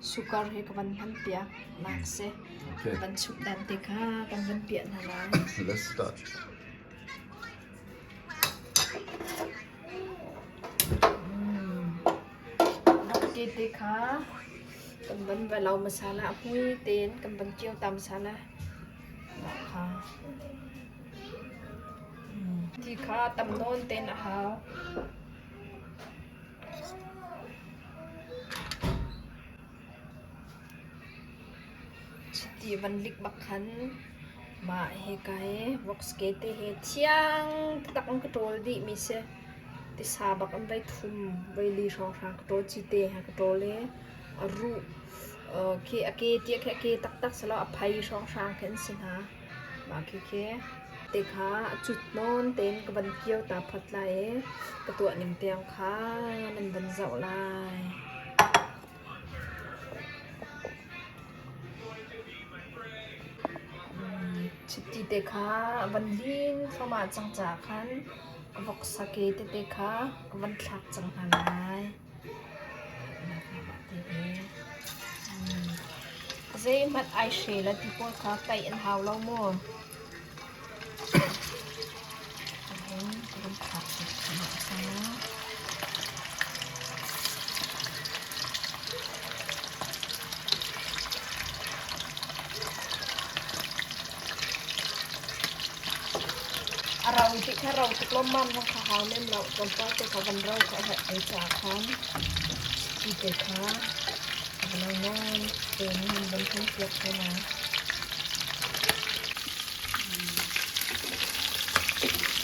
Sukar hi ka van hman piak nak si. Ka van chuk dan te kha kan van piah hna lai. Let's start. Nokti te kha kan van valau masala hui ten kan van tiau tam sana kha. Ti kha tam non ten a hau. Chiti van lik bak khan mah hi kai rock skate hi thiang taktak in ka ṭawl dih mi si. Tisa bak an vai thum, vai li hrawnghrang ka ṭawl, cite ha ka ṭawl i a ruh khi a ke tiah khi a ke taktak si lo a phai hrawnghrang khi an si hna. Mah khi khi. te kha a cut nawn tein ka van kir ta phot lai i ka tuahning tiang kha nan van zoh lai. Chiti te kha van lin thluahmah cang caah khan ka vok sak i tete kha ka van thlak cang hna lai. Zeihmanh ai hrel a ti pawl kha tlaih an hau lo maw? A rau ti kha rau tuk lawmmam kha ka hau lem lo. Tlawmpal te ka van rau ka herh te ca khan ti te kha nain pen in van kan piak ko na.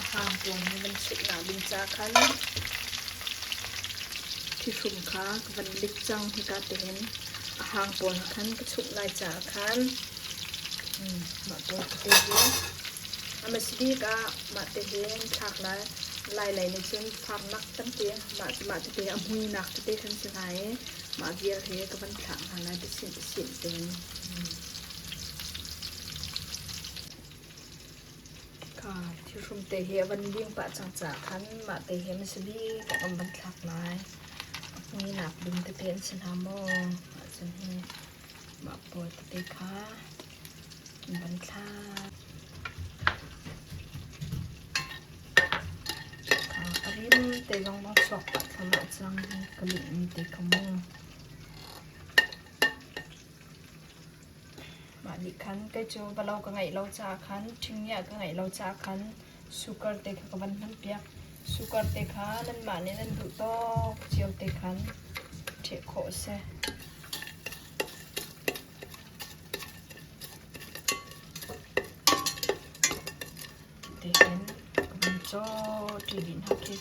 a hang pawl nih nan cheih hna ding caah thithlum kha ka van lik cang hika tihin a hang pawl nih khan ka chumh lai caah khan mah pawl te hi a masbik ah mah te hin thlak lai lai lei nih cun farnak tampi mah te te a hmuinak tete kan si lai i mah vial hi ka van thlah hna lai ti sin chimh ding. Ka thihrum te hi a van lim pah cang ca khan mah te hi masi bik a kan van thlak lai. Ni nak dum te te an si hna maw? Ahcun hi mah pawl te te kha an van thlak. Ka parim te lawng bang suak pah thlam ah cang hi ka lih in te ka mu. Mah nih khan kei cu va lo ka ngeih lo caah khan, ṭhingiah ka ngeih lo caah khan sugar te kha ka van hmanpiak. Sugar te kha nanmah nih nan duh tawk cio te khan ṭheh khawh a si. Ti hin ka van cawṭi dih hna khi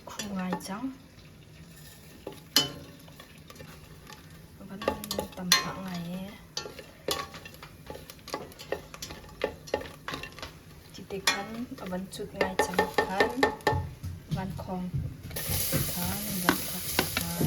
khum ngai cang. Pamhah ngai ee. Titik khan a van cut ngai cang khan, van khawng khan van thak cang.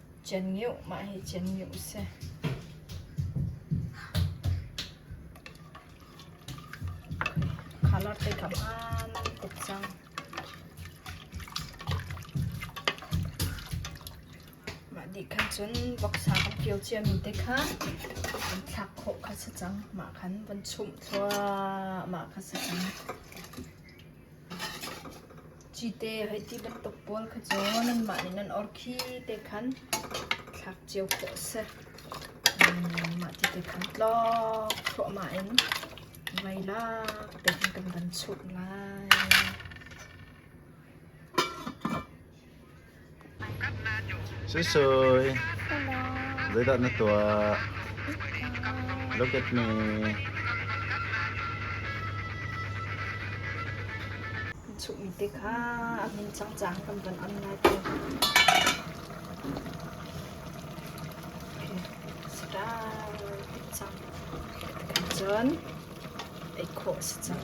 Cengih mah hi cengih a si. Colour te kam ah nan tuk cang. Mah dih khan cun voksa kan fio ciami te kha kan thlak khawh kha si cang. Mah khan von chumh thluahmah kha si cang. Cite hei ti bantuk pawl kha cu nanmah nih nan or khi te khan thlak cio khawh a si. Mah ti te khan tlawk thluahmah in vai lak tein kan van chunh lai. Suisui, zeidah na tuah? Look at me. Chuhmi te kha a min cangcang kan van am lai te. Start cang. Cun ei khawh si cang.